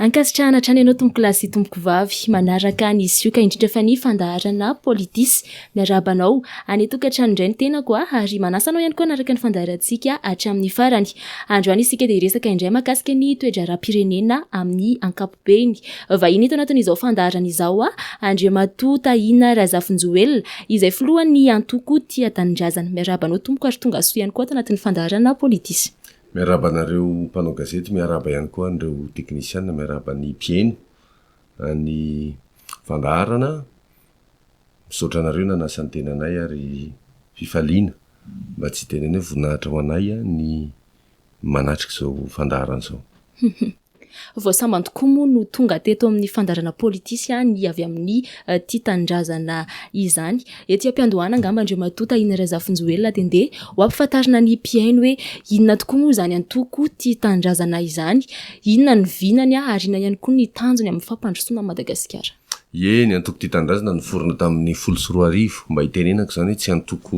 Ankasitrahana hatrany ianao tompokolahy sy tompokovavy manaraka ny sioka indrindra fa ny fandaharana Politis. Miarahaba anao any an-tokantrano indray ny tenako ah, ary manasa anao ihany koa hanaraka ny fandaharantsika hatramin'ny farany. Androany isika dia hiresaka indray mahakasika ny toe-draharaham-pirenena amin'ny ankapobeny. Beny, vahiny eto anatin'izao fandaharana izao aho, Andriamatoa Tahina Razafinjoelina, izay filohan'ny antoko Tia Tanindrazana. Miarahaba anao tompoko ary tonga soa ihany koa ato anatin'ny fandaharana Politis. Miarahaba anareo mpanao gazety, miarahaba ihany koa an'ireo teknisiana, miarahaba ny mpihaino an'ny fandaharana. Misaotra anareo nanasa ny tenanay ary fifaliana mba tsy hiteny anay, voninahitra ho anay ny manatrika izao fandaharana izao. Vao sambany tokoa moa no tonga teto amin'ny fandaharana Politisi ny avy amin'ny Tia Tanindrazana izany. Ety am-piandohana angamba Andriamatoa Tahina Razafinjoelina dia ndeha ho ampifantarina ny mpihaino hoe inona tokoa moa izany antoko Tia Tanindrazana izany, inona ny vinany ary inona ihany koa ny tanjony amin'ny fampandrosoana an'i Madagasikara. Ie, ny antoko Tia Tanindrazana niforona tamin'ny folo sy roa arivo, mba hitenenako izany hoe tsy antoko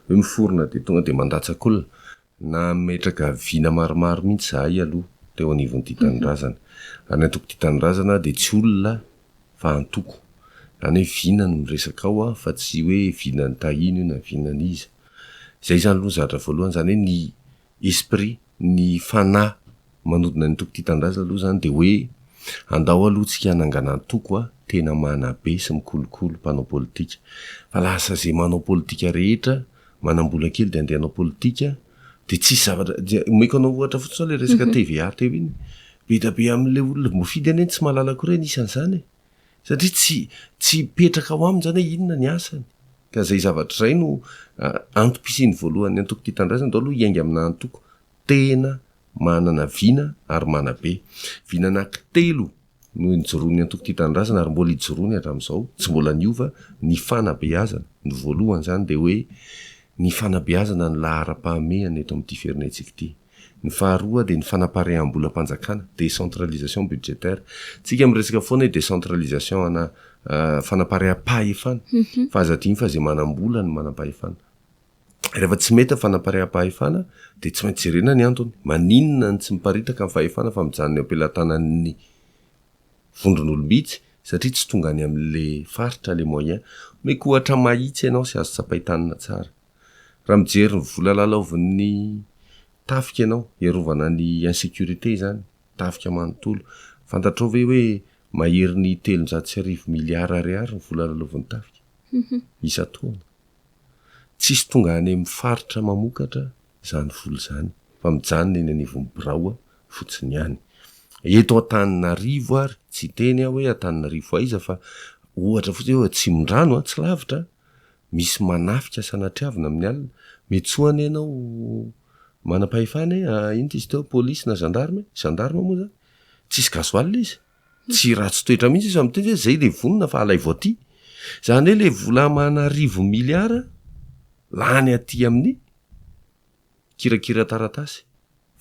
hoe miforona dia tonga dia mandatsa-kolona Nametraka vina maromaro mihitsy izahay aloha teo anivon'ity tanindrazana. Ary ny antokon'ity tanindrazana dia tsy olona fa antoko. Izany hoe vina no miresaka ao fa tsy hoe vinan'i Tahina io na vinan'iza. Izay izany aloha ny zavatra voalohany, izany hoe ny esprit, ny fanahy manodina ny antoko tia tanindrazana aloha izany dia hoe andao aloha tsika hanangana antoko a tena manabe sy mikolokolo mpanao politika fa lasa izay manao politika rehetra manambola kely dia andeha hanao politika dia tsisy zavatra dia omeko anao ohatra fotsiny ilay resaka mhm. TVA teo iny be da be amin'ilay olona voafidy anie tsy mahalala koa ireny isan'izany e. satria tsy tsy petraka ao aminy izany hoe inona ny asany ka izay zavatra izay no antom-pisian'ny voalohany antoko tia tanindrazana andao aloha hiainga amina antoko tena manana vina ary manabe. Vina anankitelo no nijoroan'ny Antoko Tia Tanindrazana ary mbola ijoroany hatramin'izao, tsy mbola niova, ny fanabeazana, ny voalohan'izany dia hoe ny fanabeazana ny laharam-pahamehana eto amin'ity firenentsika ity. Ny faharoa dia ny fanapariaham-bolam-panjakana, décentralisation budgétaire. Isika miresaka foana hoe décentralisation ana fanapariaham-pahefana fa aza adino fa izay manam-bola no manam-pahefana. Rehefa tsy mety ny fanampariaham-pahefana dia tsy maintsy jerena ny antony. Maninona ny tsy miparitaka ny fahefana fa mijanona eo am-pelatanan'ny vondron'olom-bitsy satria tsy tonga any amin'ilay faritra ilay moyen. Omeko ohatra mahitsy ianao sy azo tsapain-tanana tsara. Raha mijery ny vola lalaovin'ny tafika ianao hiarovana ny insécurité izany, tafika manontolo, fantatrao ve hoe maherin'ny telonjato sy arivo milliards ariary ny vola lalaovin'ny tafika isan-taona? Tsisy tonga any amin'ny faritra mamokatra izany vola izany fa mijanona eny anivon'ny birao fotsiny ihany. Eto Antananarivo ary, tsy hiteny aho hoe Antananarivo aiza fa ohatra fotsiny hoe Atsimondrano, tsy lavitra, misy manafika sanatriavina amin'ny alina, mety soa anie ianao manam-pahefana e, inona izy teo, polisy na zandarme, zandarme moa izany, tsisy gasoil izy. Tsy ratsy toetra mihitsy izy fa miteny hoe zay le vonona fa alaivo aty. Zany hoe le vola amana arivo milliards lany aty amin'ny kirakira-taratasy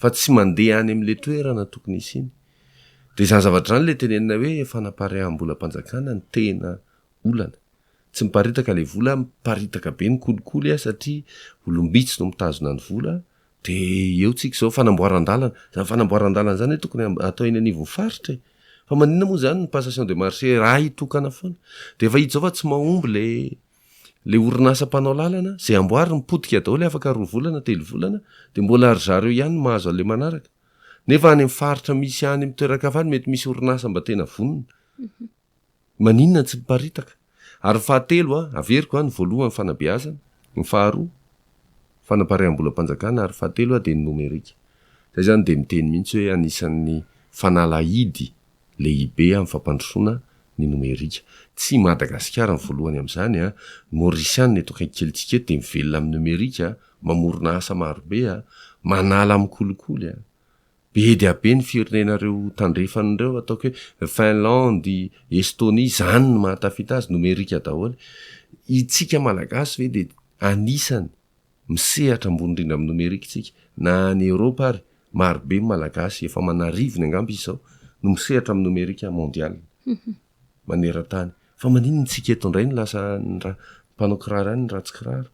fa tsy mandeha any amin'le toerana tokony hisiany. De zany zavatra zany le tenenina hoe fanapariaham-bolam-panjakana no tena olana. Tsy miparitaka le vola, miparitaka be ny kolikoly satria olom-bitsy no mitazona ny vola Dia eo tsika izao fanamboaran-dalana. Izany fanamboaran-dalana izany tokony atao eny anivon'ny faritra e. Fa maninona moa izany ny passation de marché raha hitokana foana. Dia efa hita izao fa tsy mahomby ilay ilay orinasa mpanao lalana. Izay amboariny potika daholo afaka roa volana, telo volana. Dia mbola ry zareo ihany no mahazo an'ilay manaraka. Nefa any amin'ny faritra misy any amin'ny toeran-kafa any mety misy orinasa mba tena vonona. Maninona tsy miparitaka? Ary ny fahatelo a, averiko a, ny voalohany fanabeazana, ny faharoa fanapariaham-bolam-panjakana ary ny fahatelo a dia ny nomerika. Izay izany dia miteny mihitsy hoe anisan'ny fanalahidy lehibe amin'ny fampandrosoana ny nomerika. Tsy i Madagasikara no voalohany amin'izany a, ny Maorisianina eto akaiky kelintsika eto dia mivelona amin'ny nomerika, mamorona asa marobe a, manala amin'ny kolikoly a. Be dia be ny firenena ireo tandrefana ireo, ataoko hoe Finlandy, Estonie, izany no mahatafita azy, nomerika daholo. Itsika Malagasy ve dia anisany misehatra ambony indrindra amin'ny nomerika itsika? Na any Eoropa ary, marobe ny Malagasy, efa aman'arivony angamba izy izao, no misehatra amin'ny nomerika mondial. manerantany fa maninona tsika eto indray no lasa an'ny ra mpanao kiraro ihany ny ratsy kiraro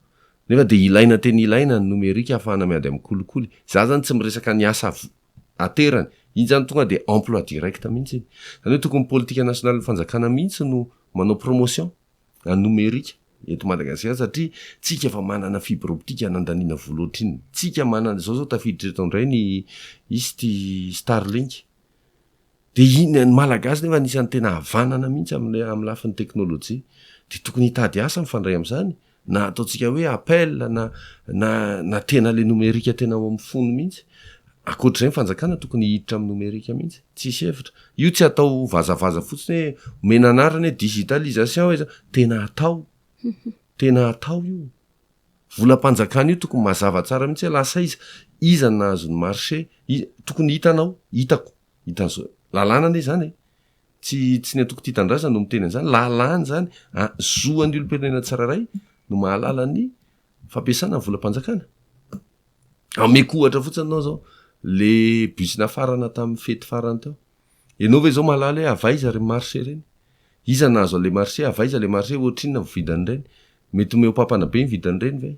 nefa dia ilaina tena ilaina ny nomerika hahafahana miady amin'ny kolikoly za zany tsy miresaka ny asa aterany iny zany tonga dia emploi direct mihitsy iny zany hoe tokony politika nasionalin'ny fanjakana mihitsy no manao promotion an'ny nomerika eto madagasikara satria tsika efa manana fibre optique anandaniana vola ohatr'inona tsika manana zao zao tafiditra eto indray ny hisy ity starlink Dia iny, ny Malagasy nefa anisan'ny tena havanana mihitsy amin'ny amin'ny lafiny teknolojia. Dia tokony hitady asa mifandray amin'izany, na ataontsika hoe appel na na na tena ilay nomerika tena ao amin'ny fony mihitsy. Ankoatr'izay ny fanjakana tokony hiditra amin'ny nomerika mihitsy. Tsisy hevitra. Io tsy atao vazavaza fotsiny hoe omena anarana hoe digitalisation, tena atao. Tena atao io. Volam-panjakana io tokony mazava tsara mihitsy hoe lasa aiza, iza no nahazo ny marché, tokony hitanao, hitako, hitan'izao, lalàna anie izany e! tsy tsy ny antoko tia tanindrazana no miteny an'izany, lalàna izany, zoan'ny olom-pirenena tsirairay no mahalala ny fampiasana ny volam-panjakana. Ameko ohatra fotsiny anao izao, le bus nafarana tamin'ny fety farany teo. Ianao ve izao mahalala hoe avy aiza ireny marche ireny? Iza nahazo an'ilay marche? Avy aiza ilay marche? Ohatrinona ny vidin'ireny? Mety homehopampana be ny vidin'ireny ve?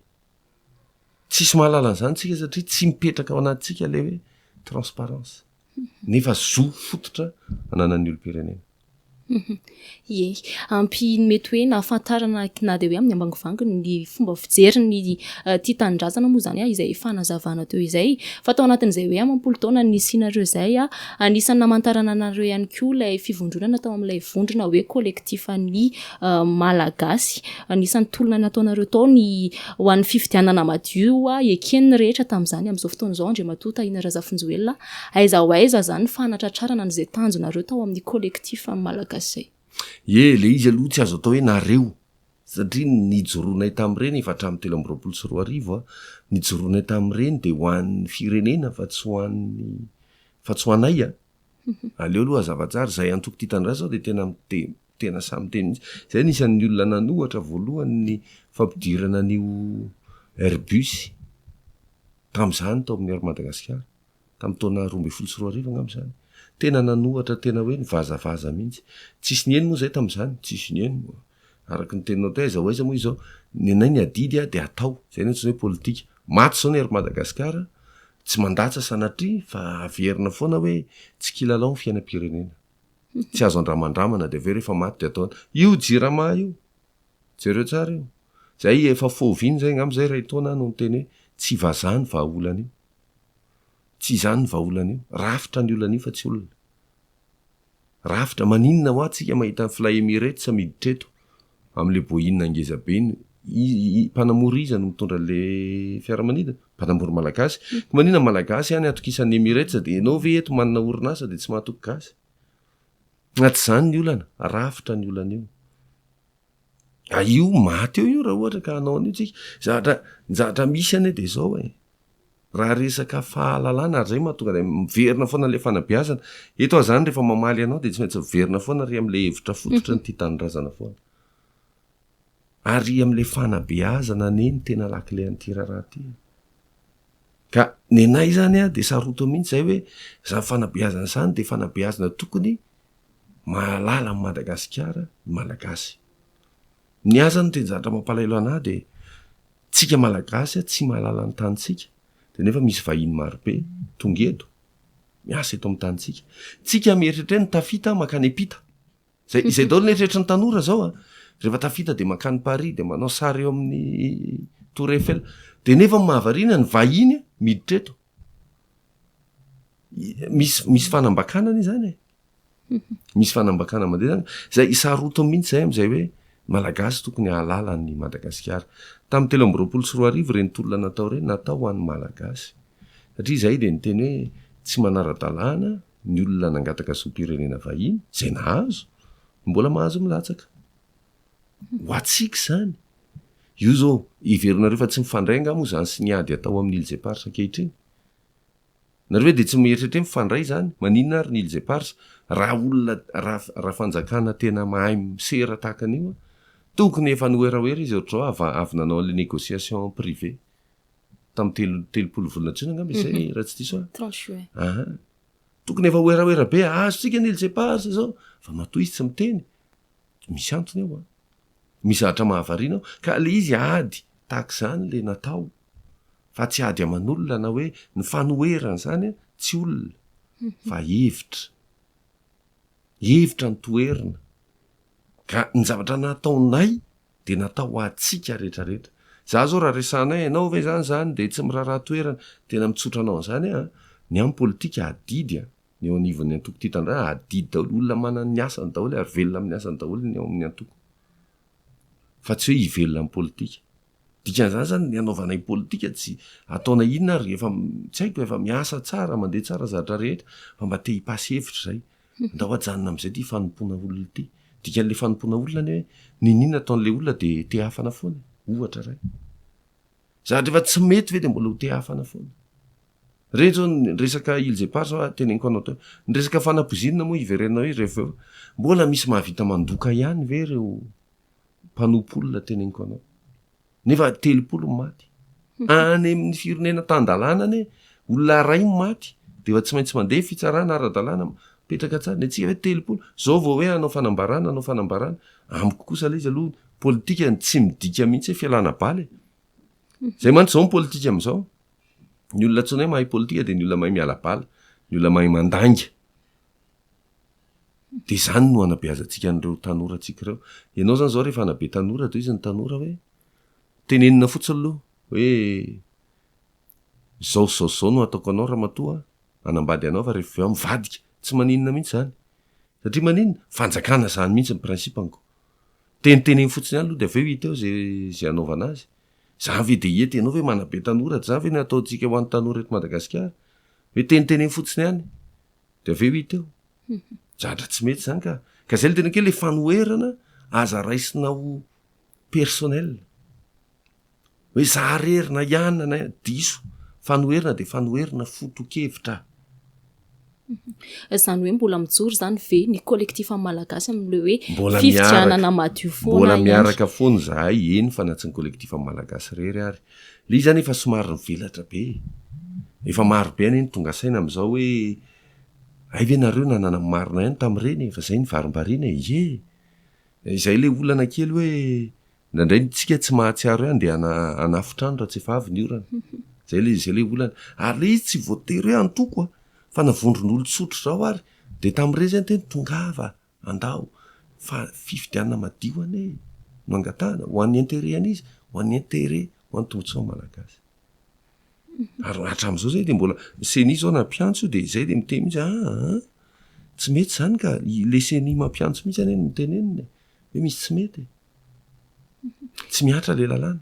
Tsisy mahalala an'izany isika satria tsy mipetraka ao anatintsika ilay hoe transparence. Nefa zo fototra ananan'ny olom-pirenena. Ie, ampy ny mety hoe nahafantarana na dia hoe amin'ny ambangovangony ny fomba fijerin'ity tanindrazana moa izany izay efa nazavana teo izay. Fa tao anatin'izay hoe amam-polo taona nisianareo izay, anisan'ny namantarana anareo ihany koa ilay fivondronana tao amin'ilay vondrona hoe kolektifan'ny Malagasy. Anisan'ny tolona nataonareo tao ny ho an'ny fifidianana madio, eken'ny rehetra tamin'izany amin'izao fotoana izao Andriamatoa Tahina Razafinjoelina Aiza ho aiza izany ny fanatratrarana an'izay tanjonareo tao amin'ny collectif amin'ny Malagasy? Ie, ilay izy aloha tsy azo atao hoe nareo, satria ny nijoroanay tamin'ireny efa hatramin'ny telo amby roapolo sy roa arivo, ny nijoroanay tamin'ireny dia ho an'ny firenena fa tsy ho an'ny, fa tsy ho anay. Aleo aloha hazava tsara. Izay antoko tia tanindrazana izao dia tena tena samy teny mihitsy. Izay no isan'ny olona nanohatra voalohany ny fampidirana an'io Airbus tamin'izany tao amin'ny Air Madagasikara, tamin'ny taona roa ambin'ny folo sy roa arivo angamba izany. Tena nanohatra tena hoe nivazavaza mihitsy. Tsisy niheno moa izay tamin'izany, tsisy niheno. Araka ny teninao teo, aiza ho aiza moa izao, ny anay ny adidy dia atao. Izay no antsoina hoe politika. Maty izao ny Air Madagasikara, tsy mandatsa sanatria fa averina foana hoe tsy kilalao ny fiainam-pirenena. Tsy azo andramandramana dia avy eo rehefa maty dia atao an. Io jirama io, jereo tsara io. Izay efa foviana izay angamba izay iray taona aho no niteny hoe tsy vazaha ny vahaolana io. Tsy izany ny vahaolana io. Rafitra ny olana io fa tsy olona. Rafitra, maninona hoa tsika mahita ny fly Emirates miditra eto amle boina ngeza be iny, mpanamory iza no mitondra le fiaramanidina? Mpanamory malagasy, ko manina ny malagasy any atokisan'ny Emirates de enao ve eto manana orinasa de tsy mahatoky gasy? Na tsy zany ny olana, rafitra ny olana io. Io maty eo io raha ohatra ka hanao an'io tsika. Ny zavatra misy anie de zao e, Raha resaka fahalalana ary izay mahatonga anay miverina foana ilay fanabeazana. Eto aho izany rehefa mamaly anao dia tsy maintsy miverina foana ry amin'ilay hevitra fototra ny tia tanindrazana foana. Ary amin'ilay fanabeazana anie ny tena lakile an'ity raharaha ity. Ka ny anay izany an, dia sarotiny mihitsy izay hoe izany fanabeazana izany dia fanabeazana tokony mahalala an'i Madagasikara ny Malagasy. Ny ahy izany ny teny zavatra mampalahelo an'ahy dia Tsika malagasy a tsy mahalala ny tanintsika de nefa misy vahiny marobe tonga eto miasa eto amin'ny tanintsika tsika mieritreritra hoe ny tafita makany ampita zay izay daholo ny eritreritry ny tanora zao a rehefa tafita de makany paris de manao sary eo amin'ny tour eiffel de nefa ny mahavariana ny vahiny miditra eto misy misy fanambakana anie zany e Misy fanambakana mandeha zany izay hisarotiny mihitsy izay amin'izay hoe Malagasy tokony hahalala an'i Madagasikara. Tamin'ny telo amby roapolo sy roa arivo ireny tolona natao ireny natao ho an'ny Malagasy. Satria izahay dia niteny hoe tsy manara-dalàna ny olona nangataka zom-pirenena vahiny, izay nahazo, no mbola mahazo milatsaka. Ho antsika izany. Io izao heverinareo fa tsy mifandray angaha moa izany sy ny ady atao amin'ny Îles Éparses ankehitriny? Nareo ve dia tsy mieritreritra hoe mifandray izany? Maninona ary ny Iles Eparses? Raha olona, raha, raha fanjakana tena mahay misera tahaka an'io an, tokony efa nihoerahoera izy ohatr'izao ava, avy nanao an'ilay négociation en privé tamin'ny telo, telopolo volana jona angamba izay raha tsy diso aho. Trente juin. Aha. Tokony efa hoerahoera be, azontsika ny Iles Eparses izao. Fa matoa izy tsy miteny. Misy antony ao an. Misy zavatra mahavariana ao. Ka ilay izy ady tahaka izany ilay natao. fa tsy ady aman'olona na hoe ny fanoherana izany an, tsy olona fa hevitra, hevitra no toherina ka ny zavatra nataonay dia natao ho antsika rehetra rehetra, za zao raha resahanay ianao ve zany zany dia tsy miraharaha toherana, tena mitsotra anao an'izany aho an, ny amin'ny politika adidy an, ny eo anivon'ny antoko tia tanindrazana adidy daholo, olona manana ny asany daholo ary velona amin'ny asany daholo ny ao amin'ny antoko fa tsy hoe hivelona amin'ny politika. Dikan'izany zany ny anaovanay politika tsy ataonay inona ary efa tsy haiko efa miasa tsara mandeha tsara zatra rehetra fa mba te hipasy hevitra zay ndao ajanona am'izay ty fanompoana olona ity dikan'le fanompoana olona ny hoe niniana ataon'le olona de te hafana foana ohatra ray zatra efa tsy mety ve de mbola ho te hafana foana reny zao ny resaka ils epar zao a teneniko anao teo ny resaka fanapozinina moa hiverenanao eo rehefa eo mbola misy mahavita mandoka ihany ve reo mpanompo olona teneniko anao nefa telopolo ny maty any amin'ny fironena tan-dalàna anie olona aray ny maty de efa tsy maintsy mandeha fitsarana ara-dalàna mipetraka tsara ny antsika hoe telopolo zao vao hoe hanao fanambarana hanao fanambarana amiko kosa le izy aloha politika ny tsy midika mihitsy hoe fialana bala e zay mantsy zao ny politika am'izao ny olona antsoina hoe mahay politika de ny olona mahay miala bala ny olona mahay mandainga Dia izany no hanabeazantsika an'ireo tanorantsika ireo. Ianao izany izao rehefa hanabe tanora dia hoy izy ny tanora hoe, tenenina fotsiny aloha hoe izao sy izao sy izao no hataoko anao ramatoa an, hanambady anao fa rehefa avy eo aho mivadika. Tsy maninona mihitsy izany. Satria maninona? Fanjakana izany mihitsy ny principe-nko. Teniteneno fotsiny ihany aloha dia avy eo hita eo izay hanaovana azy. Izany ve dia hety? Ianao ve manabe tanora? Dia izany ve no ataontsika ho an'ny tanora eto Madagasikara? Hoe teniteneno fotsiny ihany? de avy eo hita eo zatra tsy mety zany ka ka zay le tena ke le fanoherana aza raisina ho personnel hoe za rery na iana na diso fanoherina de fanoherina fotokevitra zany hoe mbola mijoro zany ve ny collectif am malagasy amle hoe fifidianana madio foana mbola miaraka foana zahay eny fa na tsy ny collectif am malagasy rery ary Le izy zany efa somary nivelatra be, efa maro be anie ny tonga saina amzao hoe hay ve nareo nanana ny marina ihany tamreny e, fa zay ny varimbariana e, ye! izay le olana kely hoe ndraindray ny tsika tsy mahatsiaro ihany de hanafotra any raha tsy efa avy ny orana, zay le zay le olana, ary le izy tsy voatery hoe antoko a, fa na vondron'olo tsotra zao ary de tamreny zany tena tongava, Andao fa fifidianana madio anie no angatahana, ho an'ny intérêt an'iza? Ho an'ny intérêt, ho an'ny tombotsoan'ny Malagasy. Ary hatramin'izao izay dia mbola, ny ceni izao na mpiantso io dia izay dia miteny mihitsy, aa, tsy mety izany ka, ilay ceni mampiantso mihitsy anie no mitenenina e, hoe misy tsy mety e. Tsy mihatra ilay lalàna.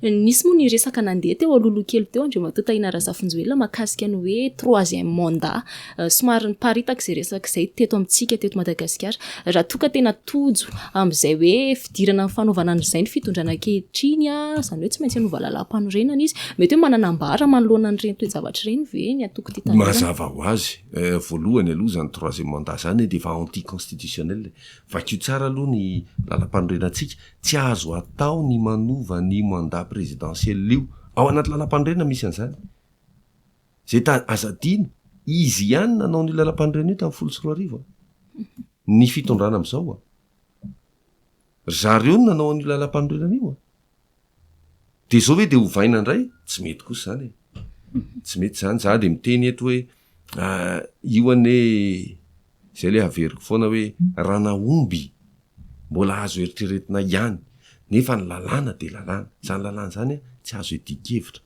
Nisy moa ny resaka nandeha teo alohaloha kely teo Andriamatoa Tahina Razafinjoelina mahakasika ny hoe troisième mandat. Somary niparitaka izay resaka izay teto amintsika teto Madagasikara. Raha toa ka tena tojo amin'izay hoe fidirana amin'ny fanaovana an'izay ny fitondrana ankehitriny, izany hoe tsy maintsy hanova lalàmpanorenana izy, mety hoe manana ambara manoloana an'ireny toe-javatra ireny ve ny antoko Tia Tanindrazana? Mazava ho azy, voalohany aloha izany troisième mandat izany dia efa anti-constitutionnel e. Vakio tsara aloha ny lalàmpanorenantsika Tsy azo atao ny manova an'io mandat présidentiel io. Ao anaty lalam-panorenana misy an'izany. Izay ta, aza adino, izy ihany nanao an'io lalam-panorenana io tamin'ny folo sy roa arivo an. Ny fitondrana amin'izao an. Ry zareo no nanao an'io lalam-panorenana io an. Dia izao ve dia ovaina indray? Tsy mety kosa izany e. Tsy mety izany. Izaho dia miteny eto hoe, Ah io anie zay le averiko foana hoe ranahomby mbola azo eritreretina ihany nefa ny lalàna de lalàna, zany lalàna zany a tsy azo idian-kevitra,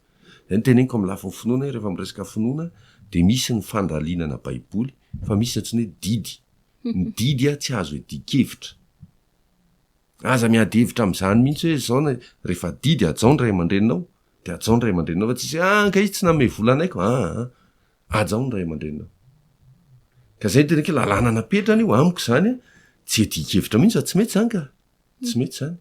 zay no teneniko amin'ny lafiny finoana hoe rehefa miresaka finoana de misy ny fandalinana baiboly fa misy ny antsoina hoe didy, ny didy a tsy azo idian-kevitra, aza miady hevitra amin'izany mihitsy hoe zao na rehefa didy hajao ny ray aman-dreninao Dia hajao ny ray aman-dreninao fa tsy hisy hoe ah angaha izy tsy nanome vola anay ko, aa hajao ny ray aman-dreninao. Ka izay no tena ke lalàna napetrany io, amiko izany tsy iadian-kevitra mihitsy fa tsy mety izany ka, tsy mety izany.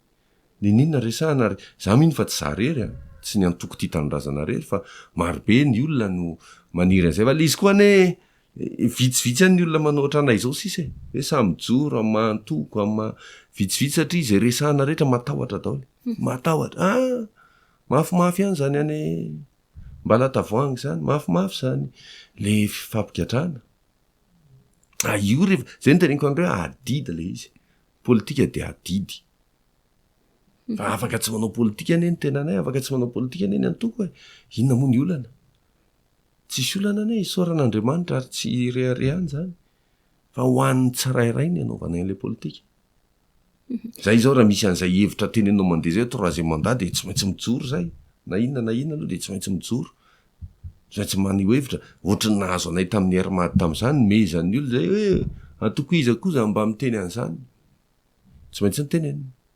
N'inon'inona resahana ary izaho mino fa tsy izaho irery an, tsy ny antoko Tia Tanindrazana irery fa marobe ny olona no maniry an'izay fa le izy koa anie Vitsivitsy ihany ny olona manao ohatranay izao sisa e! Hoe sa mijoro amin'ny maha antoko, amin'ny maha. Vitsivitsy satria izay resahana rehetra matahotra daholo e! Matahotra, ah! Mafimafy ihany izany any Ambalatavoahangy izany, mafimafy izany le fampigadrana. Ah, io rehefa, izay no teneniko anareo hoe adidy ilay izy e! Politika dia adidy. Fa afaka tsy manao politika anie ny tenanay, afaka tsy manao politika anie ny antoko e! Inona moa ny olana? Tsisy olana anie isaorana Andriamanitra ary tsy ireharehana izany fa ho an'ny tsirairay ny anaovana an'ilay politika. Zay izao raha misy an'izay hevitra tenenao mandeha zay troisième mandat dia tsy maintsy mijoro zay na inona na inona aloha dia tsy maintsy mijoro tsy maintsy maneho hevitra ohatry ny nahazo anay tamin'ny air mad tamin'izany nomehezan'ny olona zay hoe antoko iza koa za mba miteny an'izany tsy maintsy nitenenina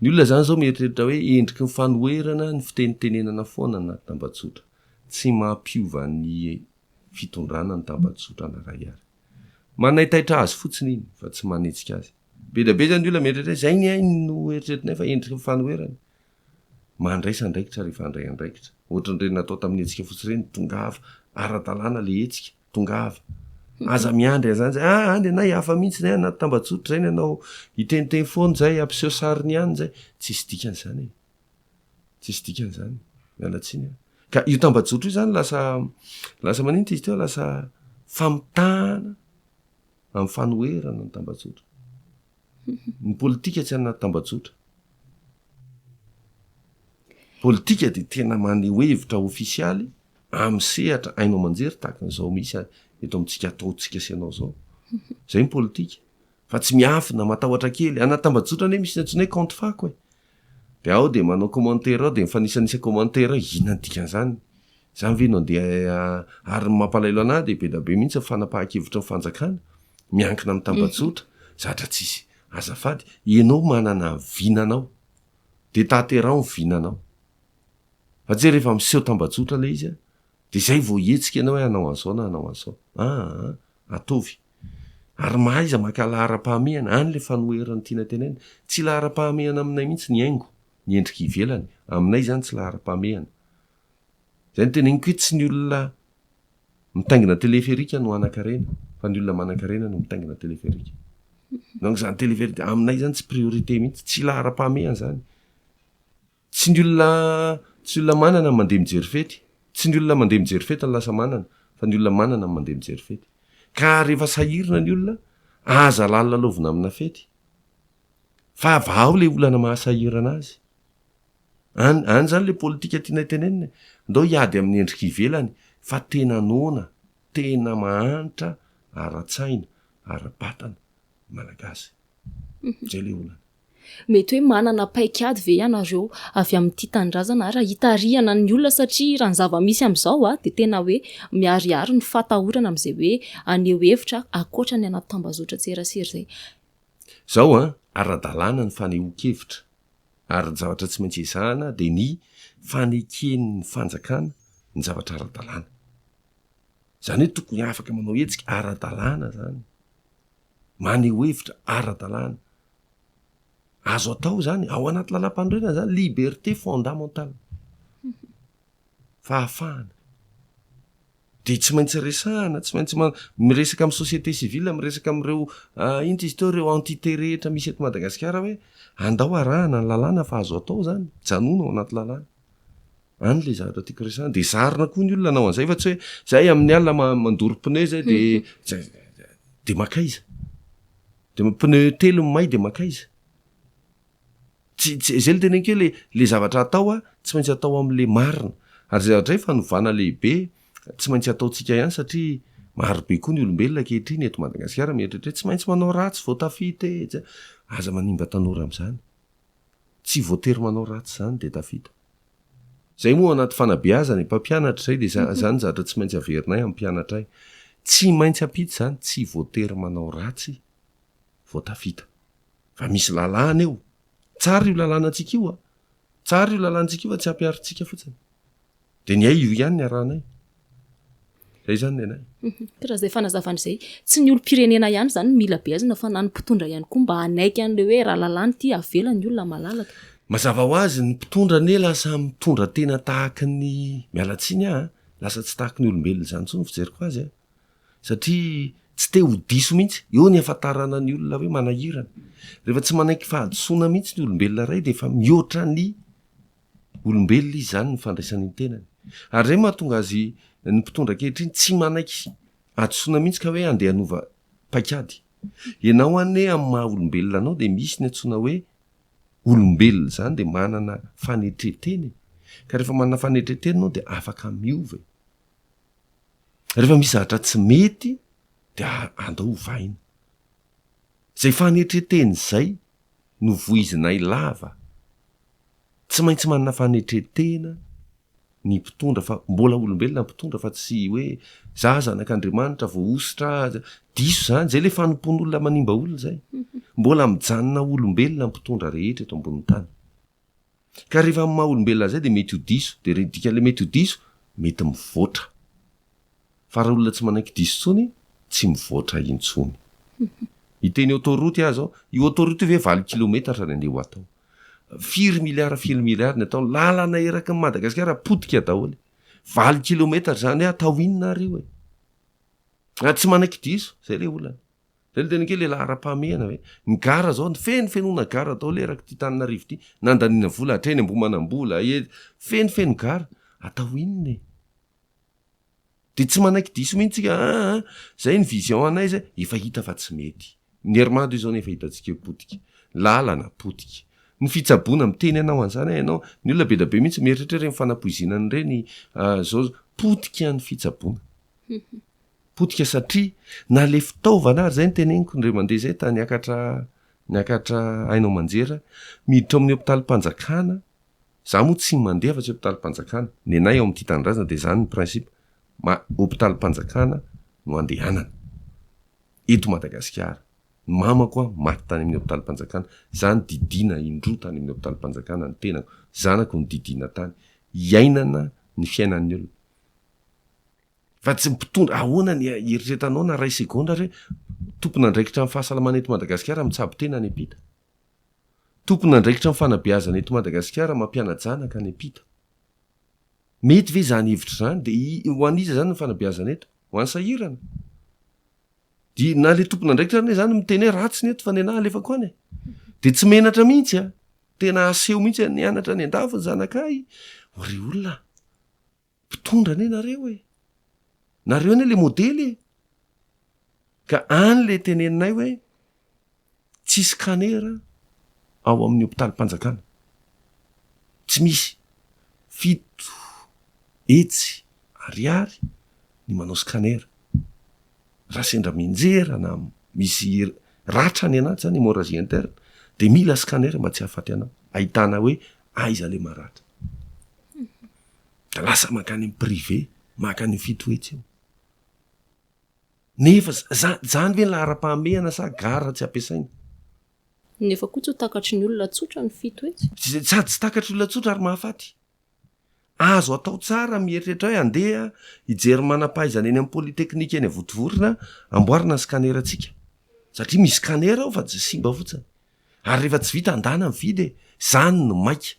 Ny olona izany izao mieritreritra hoe endriky ny fanoherana ny fitenitenenana foana na tambajotra. Tsy mampiova ny fitondrana ny tambajotra na iray ary. Manaitaitra azy fotsiny iny fa tsy manetsika azy. Be dia be izany ny olona mieritreritra hoe izay ny ahy no eritreretinay fa endriky ny fanoherana. Mandraisa andraikitra rehefa handray andraikitra. Ohatran'ireny natao tamin'ny hetsika fotsy ireny, tongava, ara-dalàna ilay hetsika. tongava. Aza miandry an'izany izay, ah any ianao hihafa mihitsy izay anaty tambajotra izay ny anao hiteniteny foana izay, hampiseho sariny ihany izay. Tsisy dikany izany e. Tsisy dikany izany. Miala tsiny an. Ka io tambajotra io izany lasa, lasa maninona izy teo, lasa famitahana amin'ny fanoherana ny tambajotra. Ny politika tsy anaty tambajotra. Politika dia tena maneho hevitra ofisialy, amin'ny sehatra haino aman-jery tahaka an'izao misy eto amintsika ataontsika sy ianao izao. Izay ny politika. Fa tsy miafina, matahotra kely. Anaty tambajotra anie misy ny antsoina hoe kaonty fako e. Dia ao dia manao commentaire ao dia mifanisanisa commentaire ao, inona ny dikan'izany? Izany ve no andeha ary ny mampalahelo an'ahy dia be dia be mihitsy ny fanapahan-kevitry ny fanjakana miankina amin'ny tambajotra, zatra tsisy. Azafady, ianao manana ny vinanao dia tateraho ny vinanao. Fa tsy hoe rehefa miseho tambajotra ilay izy an, dia izay vao hihetsika ianao hoe hanao an'izao na hanao an'izao. Aa! ataovy. Ary mahaiza maka laharam-pahamehana, any ilay fanoheran'ny tiana tenenina. Tsy laharam-pahamehana aminay mihitsy ny haingo, ny endrika ivelany. Aminay izany tsy laharam-pahamehana. Izay no teneniko hoe tsy ny olona mitaingina teleferika no hanan-karena, fa ny olona manan-karena no mitaingina teleferika. Donc izany teleferika, aminay izany tsy priorité mihitsy, tsy laharam-pahamehana izany. Tsy ny olona tsy ny olona manana no mandeha mijery fety. Tsy ny olona mandeha mijery fety no lasa manana, fa ny olona manana no mandeha mijery fety. Ka rehefa sahirana ny olona, aza lalilalaovina amina fety, fa vahao ilay olana mahasahirana azy. Any, any izany ilay politika tianay tenenina e. Andao hiady amin'ny endrika ivelany, fa tena noana, tena mahantra ara-tsaina, ara-batana ny Malagasy. Izay ilay olana. Mety hoe manana paikady ve ianareo avy amin'ity tanindrazana ary hitarihana ny olona satria raha ny zava-misy amin'izao dia tena hoe miharihary ny fatahorana amin'izay hoe haneho hevitra ankoatra ny anaty tambazotran-tserasera izay. Izao an, ara-dalàna ny fanehoan-kevitra ary ny zavatra tsy maintsy ezahana dia ny faneken'ny fanjakana ny zavatra ara-dalàna. Izany hoe tokony afaka manao hetsika ara-dalàna izany. maneho hevitra ara-dalàna, azo atao izany ao anaty lalàmpanorenana izany, liberté fondamentale, fahafahana, dia tsy maintsy resahana, tsy maintsy miresaka amin'ny société civile, miresaka amin'ireo inona izy teo, ireo entité rehetra misy eto Madagasikara hoe andao arahana ny lalàna fa azo atao izany, mijanona ao anaty lalàna. any le zavatra tiako resahana de zarina koa ny olona anao an'izay fa tsy hoe zay amin'ny alina mandoro pneu zay de de makaiza de pneu telo may de makaiza tsy tsy zay le tena keo le le zavatra atao a tsy maintsy atao am'le marina ary zay zavatra zay fanovana lehibe tsy maintsy ataontsika ihany satria maro be koa ny olombelona ankehitriny eto madagasikara mieritreritra hoe tsy maintsy manao ratsy vao tafita e aza manimba tanora am'zany Tsy voatery manao ratsy izany dia Davida. Izay moa anaty fanabeazana e, mpampianatra izay dia izany zatra tsy maintsy averinay amin'ny mpianatray. Tsy maintsy ampita izany tsy voatery manao ratsy vao tafita. Fa misy lalàna eo. Tsara io lalàna antsika io a! Tsara io lalàna antsika io fa tsy hampiharintsika fotsiny. Dia ny ay io ihany ny arahanay. Zay zany ny anay. Ka raha zay fanazavana izay, tsy ny olom-pirenena ihany zany no mila beazina fa na ny mpitondra ihany koa mba hanaiky an'le hoe raha lalàna ity avela ny olona malalaka. Mazava ho azy, ny mpitondra anie lasa mitondra tena tahaky ny, miala tsiny aho a, lasa tsy tahaky ny olombelona izany intsony ny fijeriko azy a, satria tsy te ho diso mihitsy, eo ny hahafantarana ny olona hoe manahirana. Rehefa tsy manaiky fahadisoana mihitsy ny olombelona iray dia efa mihoatra ny. olombelona izy izany ny fandraisany ny tenany. Ary izay no mahatonga azy ny mpitondra ankehitriny tsy manaiky hadisoana mihitsy ka hoe andeha hanova paikady. Ianao anie amin'ny maha olombelona anao dia misy ny antsoina hoe olombelona izany dia manana fanetren-tena e! Ka rehefa manana fanetren-tena ianao dia afaka miova e! Rehefa misy zavatra tsy mety dia andao ovaina. Izay fanetren-tena izay no voizinay lava. Tsy maintsy manana fanetren-tena ny mpitondra fa mbola olombelona ny mpitondra fa tsy hoe za zanak'Andriamanitra voahosotra aza, diso zany, zay le fanompoan'olona manimba olona zay. Mbola mijanona ho olombelona ny mpitondra rehetra eto ambonin'ny tany. Ka rehefa amin'ny maha olombelona an'izay dia mety ho diso, dia dikan'ilay mety ho diso, mety mivoatra. Fa raha olona tsy manaiky diso intsony, tsy mivoatra intsony. Hiteny autoroute aho izao, io autoroute io ve valo kilometatra ny andeha ho atao? Firy milliards firy milliards ny atao? Lalana eraky ny Madagasikara potika daholo. Valo kilometatra izany hoe atao inona ary io e? Ary tsy manaiky diso, izay ilay olana. Izay no tena kely e, laharam-pahamehana ve? Ny gara izao, ny feno fenoana gara daholo eraky ity Tananarivo ity, nandaniana vola hatreny Ambohimanambola, eny, feno feno gara. Atao inona e? de tsy manaiky diso mihitsy tsika aa zay ny vision anay zay efa hita fa tsy mety ny hermado izao ny efa hitantsika eo potika lalana potika ny fitsaboana miteny anao an'zany a ianao ny olona be da be mihitsy mieritreritra reny fanapoizinana an'ireny zao potika ny fitsaboana potika satria na le fitaovana ary zay ny teneniko ndray mandeha zay tany akatra niakatra haino aman-jera miditra ao amin'ny hopitalim-panjakana Za moa tsy mandeha afa tsy hopitalim-panjakana. Nenay ao amin'ny Tia Tanindrazana dia izany ny principe, ma, hopitalim-panjakana no andehanana. Eto Madagasikara. Ny mamako an, maty tany amin'ny hopitalim-panjakana. Za nodidiana indroa tany amin'ny hopitalim-panjakana ny tenako. Zanako nodidiana tany. Iainana ny fiainan'ny olona. Fa tsy mpitondra, ahoana ny hieritreretanao na iray segondra re, tompon'andraikitra amin'ny fahasalamana eto Madagasikara mitsabo tena any am-pita. Tompon'andraikitra amin'ny fanabeazana eto Madagasikara mampiana-janaka any am-pita. Mety ve izany hevitra izany? Dia ho an'iza izany ny fanabeazana eto? Ho an'ny sahirana? Dia na ilay tompon'andraikitra ary anie izany miteny hoe ratsy ny eto fa ny anà alefako any e! Dia tsy menatra mihitsy an! Tena aseho mihitsy an! Nianatra any an-dafy ny zanakay! Ry olona a! Mpitondra anie nareo e! Nareo anie le modely e! Ka any le teneninay hoe tsy scanner ao amin'ny hopitalim-panjakana. Tsy misy. Fito hetsy ariary ny manao scanner. Raha sendra mianjera na misy ratra any anaty zany, hemorragie interne, dia mila scanner mba tsy hahafaty anao. Ahitana hoe aiza le maratra. dia lasa mankany amin'ny privé maka an'io fito hetsy io nefa zany ve ny laharam-pahamehana sa gara tsy ampiasaina? Nefa koa tsy ho takatry ny olona tsotra ny fito hetsy. Sady tsy takatry olona tsotra ary mahafaty. Azo atao tsara mieritreritra hoe andeha hijery manam-pahaizana eny amin'ny polytechnique eny Votovorona amboarina ny scanner-ntsika satria misy scanner ao fa tsy simba fotsiny. Ary rehefa tsy vita andana ny fidy e! Izany no maika.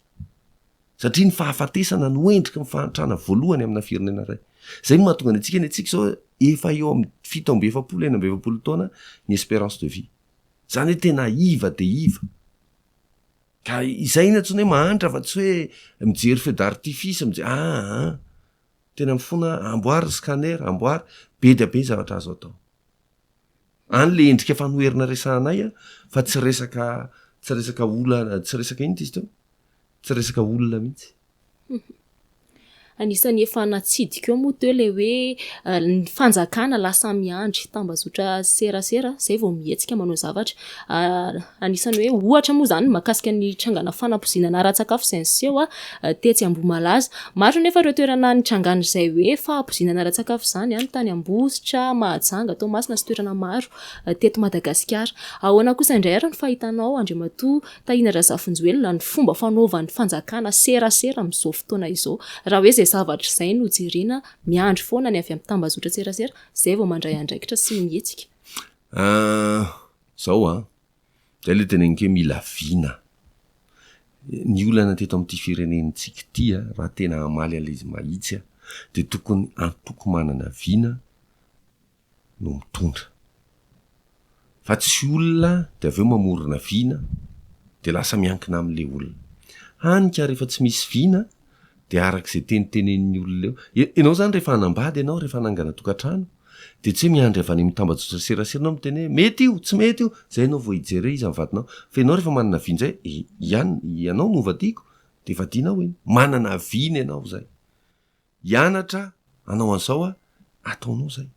Satria ny fahafatesana no endriky ny fahantrana voalohany amina firenena iray. Izay no mahatonga ny antsika ny antsika izao efa eo amin'ny fito amby efapolo, enina amby efapolo taona ny espérance de vie. Izany hoe tena iva dia iva. Ka izay no antsoina hoe mahantra fa tsy hoe mijery feux d'artifice, mijery aa. Tena mifona, amboary ny scanner, amboary. Be dia be ny zavatra azo atao. any le endrika fanoherana resahanay a fa tsy resaka tsy resaka olana tsy resaka inona ty izy teo tsy resaka olona mihitsy anisan'ny efa natsidika eo moa teo le hoe ah, ny fanjakana lasa miandry tambazotra serasera zay vao mihetsika manao zavatra ah, Anisan'ny hoe ohatra moa izany ny mahakasika ny trangana fanampoizinana ara-tsakafo izay niseho tetsy Ambohimalaza. Maro anefa ireo toerana nitrangan'izay hoe fahapoizinana ara-tsakafo izany any tany Ambositra, Mahajanga, Toamasina sy toerana maro teto Madagasikara. Ahoana kosa indray ary ny fahitanao Andriamatoa Tahina Razafinjoelina ny fomba fanaovan'ny fanjakana serasera amin'izao fotoana izao raha hoe izay zavatra izay no jerena miandry foana ny avy amin'ny tambazotran-tserasera izay vao mandray andraikitra sy mihetsika? Zao an! Zay ilay teneniko hoe mila vina. Ny olana teto amin'ity firenentsika ity an, raha tena hamaly an'ilay izy mahitsy an, dia tokony antoko manana vina no mitondra. Fa tsy olona dia avy eo mamorona vina dia lasa miankina amin'ilay olona. Hany ka rehefa tsy misy vina Dia araka izay tenitenenin'ny olona eo. Ianao izany rehefa hanambady ianao, rehefa hanangana tokantrano, dia tsy hoe miandry avy any amin'ny tambajotra serasera ianao miteny hoe mety io, tsy mety io, izay ianao vao hijery hoe iza ny vadinao. Fa ianao rehefa manana avis indray, ian, ianao no hovadiako, dia vadianao iny. Manana avis-ny ianao izay. Hianatra hanao an'izao aho, ataonao izay.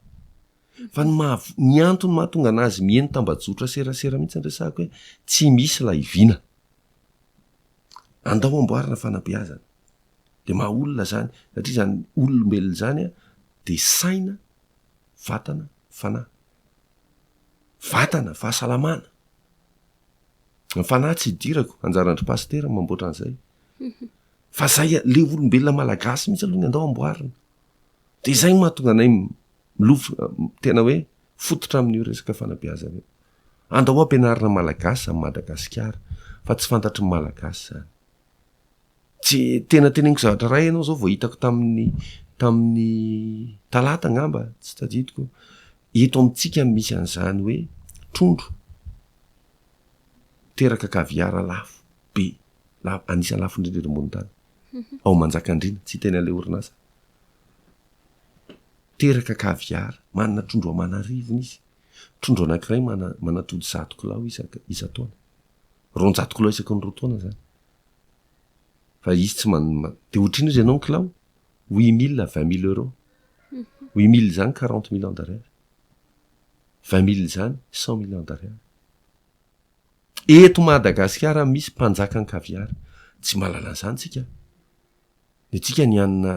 Fa ny maha, ny antony mahatonga an'azy miheno tambajotra serasera mihitsy no resahako hoe tsy misy ilay vina. Andao amboarina fanabeazana. Dia maha olona izany, satria izany olombelona izany dia saina, vatana, fanahy. Vatana, fahasalamana. Ny fanahy tsy idirako, anjaran-dry pasitera ny mamboatra an'izay. Fa izay ilay olombelona malagasy mihitsy aloha no andao amboarina. Dia izay no mahatonga anay milofo, tena hoe fototra amin'io resaka fanabeazana io. Andao ampianarina malagasy am Madagasikara fa tsy fantatry ny malagasy zany. Tsy tena teneniko zavatra ray ianao zao vao hitako tamin'ny tamin'ny talata angamba tsy tadidiko eto amintsika misy an'izany hoe trondro teraka kaviara lafo be lafo anisa lafo indrindra eto ambony tany ao manjakandriana tsy tena le orinasa teraka kaviara manana trondro amanarivony izy Trondro anankiray manatody zato kilao isan-taona. Roanjato kilao isaky ny roa taona izany. Fa izy tsy man... Dia ohatrino izy ianao ny kilao? Huit mille à vingt mille euros. Huit mille izany quarante millions d'ariary. Vingt mille izany cent millions d'ariary. Eto Madagasikara misy mpanjakan'ny caviar. Tsy mahalala an'izany tsika. Ny antsika ny hanina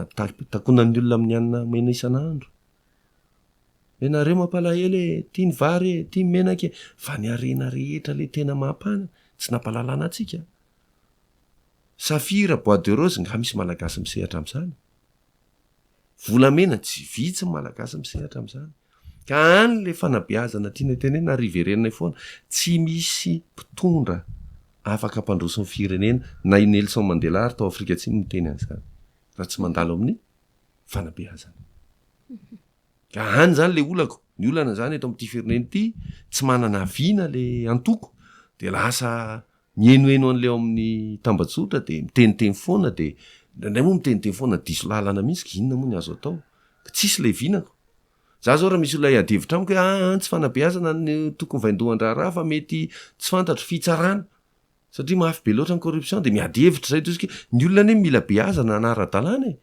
takonan'ny olona amin'ny hanina omena isan'andro. Ianareo mampalahelo e, tia ny vary e, tia ny menaka e, fa ny harena rehetra le tena mampana tsy nampalalana antsika. Safira, bois de rose nga misy malagasy misehatra amzany? Volamena tsy vitsy ny malagasy misehatra amzany. Ka any le fanabeazana tianay tenenina ary iverenanay foana, tsy misy mpitondra afaka hampandroso ny firenena, na i Nelson Mandela ary tao Afrika Atsimo niteny anzany, raha tsy mandalo amin'ny fanabeazana. Ka any zany le olako, ny olana zany eto amin'ity firenena ity, tsy manana vina le antoko de lasa mihenoheno an'le ao amin'ny tambajotra de miteniteny foana de indraindray moa miteniteny foana diso lalana mihitsy ka inona moa ny azo atao, ka tsisy le vinako. Za zao raha misy olona hiady hevitra amiko hoe aa tsy fanabeazana no tokony vaindohan-draharaha fa mety tsy fantatro, fitsarana. Satria mafy be loatra ny corruption dia miady hevitra izay toy isika, ny olona anie mila beazana na ara-dalàna e!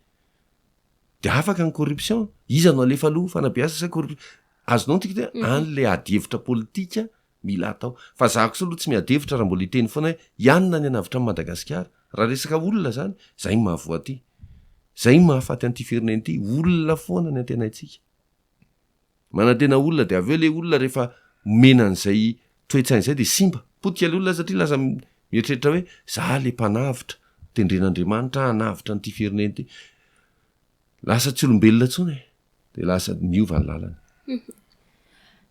dia afaka ny corruption, iza no halefa aloha, fanabeazana sa corruption? azonao ny tiako dia mhm. any ilay ady hevitra politika mila atao, fa za kosa aloha tsy miady hevitra raha mbola hiteny foana hoe ianona ny anavitra amin'i Madagasikara, raha resaka olona izany, izay ny mahavoaty, izay ny mahafaty an'ity firenena ity, olona foana ny antenaintsika. Manantena olona dia avy eo ilay olona rehefa omena an'izay toe-tsaina izay dia simba. Potika ilay olona satria lasa mieritreritra hoe za ilay mpanavotra, tendren'Andriamanitra aho hanavotra an'ity firenena ity. Lasa tsy olombelona intsony e. Dia lasa miova ny lalany.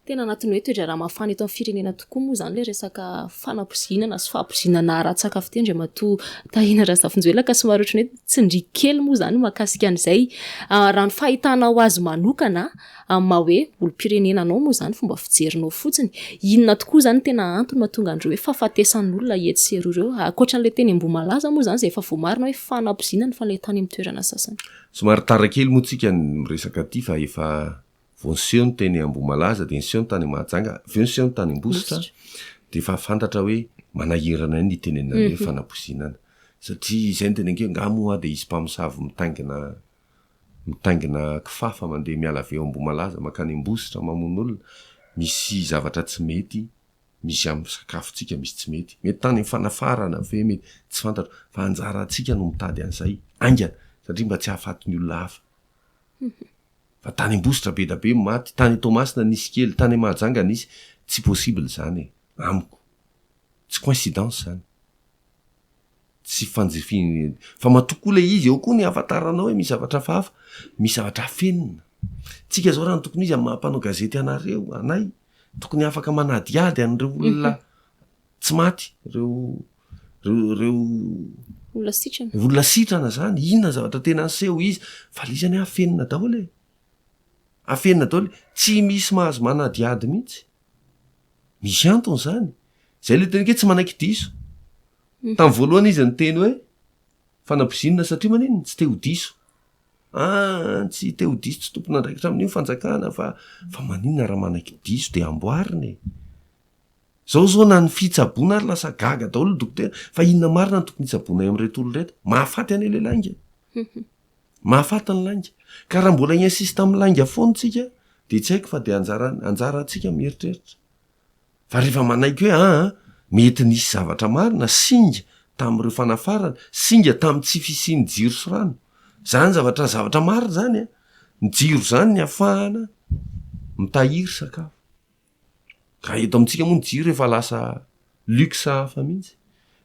Tena anatin'ny hoe toe-draharaha mafana eto amin'ny firenena tokoa moa izany ilay resaka fanapoizinana sy fahapoizinana aratsaka fiteny Andriamatoa Tahina Razafinjoelina ka somary ohatran'ny hoe Tsindrio kely moa izany mahakasika an'izay, raha ny fahitanao azy manokana amin'ny maha hoe olom-pirenena anao moa izany, fomba fijerinao fotsiny, inona tokoa izany no tena antony mahatonga an'ireo hoe fahafatesan'olona etsy sy eroa ireo? Ankoatra an'ilay teny Ambohimalaza moa izany izay efa voamarina hoe fanabozina ny fanentan'ny amin'ny toerana sasany. Somary tara kely moa tsika ny miresaka aty fa efa vao niseho ny teny Ambohimalaza dia niseho ny tany Mahajanga, avy eo niseho ny tany Ambositra, dia efa fantatra hoe manahirana ihany ny hitenenana ny hoe mhm. fanapozinana. Satria izay ny tena ange, nga moa dia hisy mpamosavy mitaingina mitaingina kifafa mandeha miala avy eo Ambohimalaza makany Ambositra mamono olona, misy zavatra tsy mety, misy amin'ny sakafontsika misy tsy mety. Mety tany amin'ny fanafarana ve mety tsy fantatro fa anjarantsika no mitady an'izay haingana satria mba tsy hahafaty ny olona hafa. Mhm. Fa tany Ambositra be da be ny maty, tany Toamasina nisy kely, tany Mahajanga nisy, tsy possible izany e, amiko. Tsy coincidence izany. Tsy fanjifin, fa matoa koa ilay izy, eo koa ny hahafantaranao hoe misy zavatra hafahafa, misy zavatra afenina. Tsika zao raha ny tokony izy amin'ny maha mpanao gazety anareo, anay, tokony afaka manadihady an'ireo olona tsy maty reo reo olona sitrana olona sitrana zany inona ny zavatra tena aseho izy valizany afenina daholo e afenina daholo tsy misy mahazo manadihady mihitsy misy antony zany zay le tena ke tsy manaiky diso mhm. tamin'ny voalohana izy ny teny hoe fanabozinina satria maniny tsy te ho diso a ah, tsy te ho diso tsy tompon'andraikitra amin'io fanjakana fa fa manina raha manaiky diso de amboarina e Zao zao na ny fitsaboana ary lasa gaga daholo ny dokotera fa inona marina no tokony hitsaboana eo amin'ireto olona ireto? Mahafaty anie le lainga e! Mahafaty ny lainga. Ka raha mbola hi-insiste amin'ny lainga foana tsika dia tsy haiko fa dia anjara anjara antsika mieritreritra. Fa rehefa manaiky hoe aa mety nisy zavatra marina, singa, tamin'ireo fanafarana, singa tamin'ny tsy fisian'ny jiro sy rano. Zany zavatra zavatra marina zany an! Ny jiro zany ny afahana mitahiry sakafo. Raha eto amintsika moa ny jiro efa lasa luxe hafa mihitsy.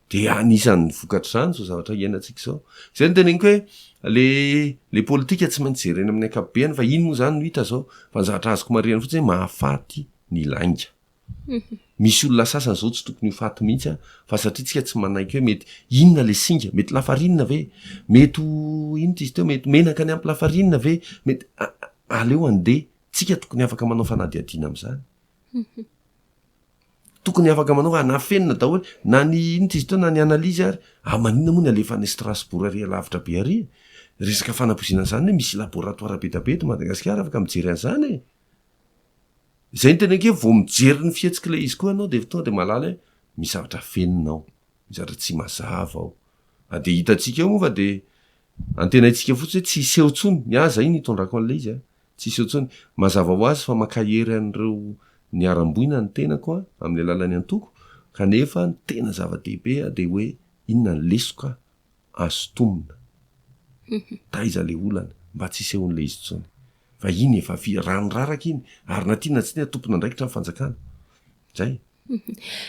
Dia anisan'ny vokatr'izany izao zavatra iainantsika izao. Izay no teneniko hoe ilay politika tsy maintsy jerena amin'ny ankapobeny fa iny moa izany no hita izao. Fa ny zavatra azoko marihina fotsiny hoe mahafaty ny lainga. Misy olona sasany izao tsy tokony ho faty mihitsy fa satria isika tsy manaiky hoe mety inona ilay singa, mety lafarinina ve? Mety ho inona izy teo, mety menaka niampy lafarinina ve? Mety, aleo handeha Tsika tokony afaka manao fanadihadiana amin'izany. Tokony afaka manao fa nafenina daholo na ny inona izy itony na ny analyse ary ary maninona moa ny alefa any Strasbourg ary alavitra be ary resaka fanapoizinana izany hoe misy laboratoire be dia be eto Madagasikara afaka mijery an'izany e! Izay no teneniko hoe vao mijery ny fihetsik'ilay izy koa ianao dia tonga dia mahalala hoe misy zavatra afenina ao, misy zavatra tsy mazava ao. Ary dia hitantsika eo moa fa dia antenaintsika fotsiny hoe tsy hiseho intsony, ny ahy izay no itondrako an'ilay izy a! Tsisy eo intsony. Mazava ho azy fa mankahery an'ireo niharam-boina ny tenako amin'ny alalan'ny antoko, kanefa ny tena zava-dehibe dia hoe inona ny lesoka azo tomina. Taiza ilay olana? Mba tsy hisehoan'ilay izy intsony. Fa iny efa vy, rano raraka iny, ary na tia na tsy tia tompon'andraikitra ny fanjakana. Izay e.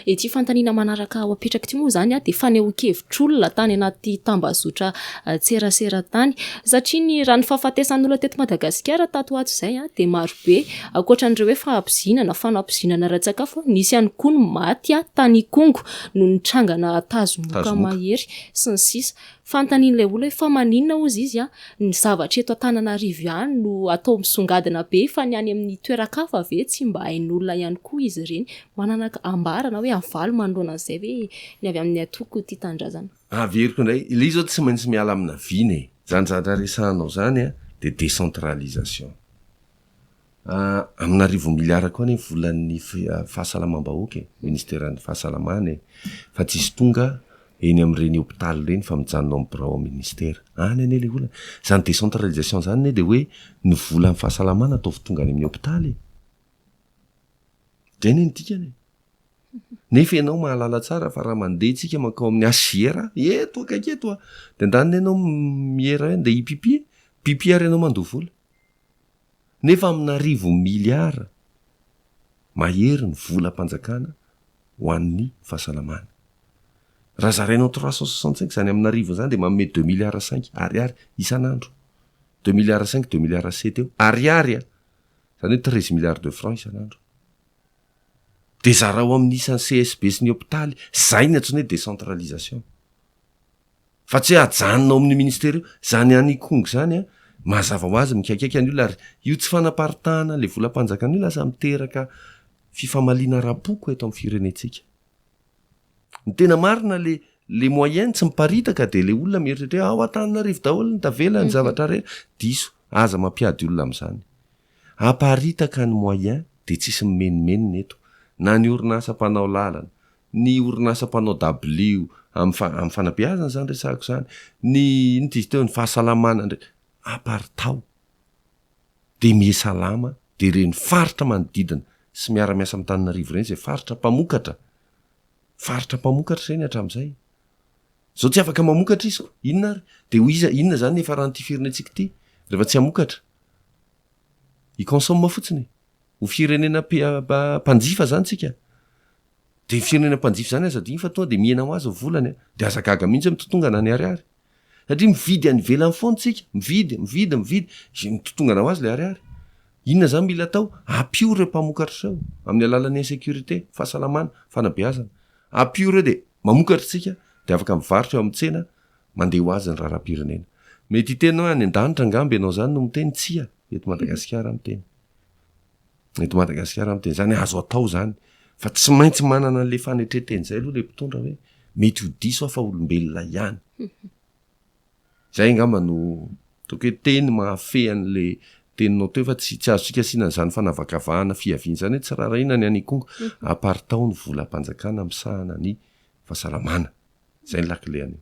Ity fanontaniana manaraka ho apetrako ity moa izany dia fanehoan-kevitr'olona tany anaty tambazotra an-tserasera tany. Satria ny raha ny fahafatesan'olona teto Madagasikara tato ho ato izay dia marobe. Ankoatra an'ireo hoe fahabozinana, fanabozinana ara-tsakafo, nisy ihany koa ny maty tany Ikongo noho ny trangana tazomoka mahery sy ny sisa. Fantanin'ilay olona hoe fa maninona hozy izy an, ny zavatra eto Antananarivo ihany no atao misongadina be fa ny any amin'ny toeran-kafa ve tsy mba hain'olona ihany koa izy ireny? Manana ambara na hoe avaly manoloana an'izay ve ny avy amin'ny antoko Tia Tanindrazana? Averiko indray, ilay izy izao tsy maintsy miala amina vina e! Izany zavatra resahanao izany dia décentralisation. Amina arivo miliara koa anie ny volan'ny fahasalamam-bahoaka e, ministeran'ny fahasalamana e, fa tsy hisy tonga eny amin'ireny hopitaly ireny fa mijanona ao amin'ny birao ao ministera. Any anie ilay olana. Izany décentralisation izany anie dia hoe ny volan'ny fahasalamana ataovy tonga any amin'ny hopitaly e. Izay anie ny dikany e. Nefa ianao mahalala tsara fa raha mandeha tsika mankao amin'ny HJR eto akaiky eto a, dia andaniny ianao miera hoe andeha hipipi, pipi ary ianao mandoa vola. nefa amin'arivo miliara mahery ny volam-panjakana ho an'ny fahasalamana. Raha zaraina en trois cent soixante cinq izany amin'arivony izany dia manome deux miliara cinq Ariary isan'andro. Deux miliara cinq, deux miliara sept eo, Ariary an! Izany hoe treize milliards de francs isan'andro. Dia zarao amin'ny isan'ny CSB sy ny hopitaly, izay ny antsoinay decentralisation. fa tsy hoe ajanona ao amin'ny ministera io, izany ihany Ikongo izany an, mazava ho azy mikaikaika ny olona ary io tsy fanaparitahana ilay volam-panjakana io lasa miteraka fifamaliana ara-poko eto amin'ny firenentsika. Ny tena marina le le moyen tsy miparitaka dia le olona mieritreritra hoe ao Antananarivo daholo ny tavela ny zavatra rehetra, diso, aza mampiady olona amin'izany. Aparitaka ny moyens dia tsisy mimenomenona eto na ny orinasa mpanao lalana, ny orinasa mpanao dabilio amin'ny fanabeazana izany resahako izany, ny inona izy teo, ny fahasalamana indray, aparitao dia mihesalama dia ireny faritra manodidina sy miara-miasa amin'Antananarivo ireny izay faritra mpamokatra, faritra mpamokatra ireny hatramin'izay. Izao tsy afaka mamokatra izy, inona ary? Dia ho iza, inona izany ny hiafaran'ity firenentsika ity rehefa tsy hamokatra? I consomme fotsiny e. Ho firenena mpanjifa zany tsika. De ny firenena mpanjifa zany aza adino fa tonga de mihena ho azy ny volany a. De aza gaga mihitsy hoe mitotongana ny ariary. Satria mividy any ivelany foana tsika. Mividy, mividy, mividy. Ze mitotongana ho azy le ariary. Inona zany mila atao? Ampio reo mpamokatra reo amin'ny alalan'ny insecurite, fahasalamana, fanabeazana. Ampio reo de mamokatra tsika de afaka mivarotra eo amin'ny tsena Mandeha ho azy ny raharaham-pirenena. Mety hiteny hoe any an-danitra angamba ianao izany no miteny, tsia, eto Madagasikara aho miteny. Eto Madagasikara aho miteny. Izany azo atao izany. Fa tsy maintsy manana an'ilay fanetren-teny izay aloha ilay mpitondra hoe mety ho diso aho fa olombelona ihany. Izay angamba no ataoko hoe teny mahafehy an'ilay teninao teo fa tsy, tsy azontsika asiana an'izany fanavakavahana fiaviana izany hoe tsy raharahiana ny any Ikongo, à part ao ny volam-panjakana misahana ny fahasalamana. Izay ny lakile anio.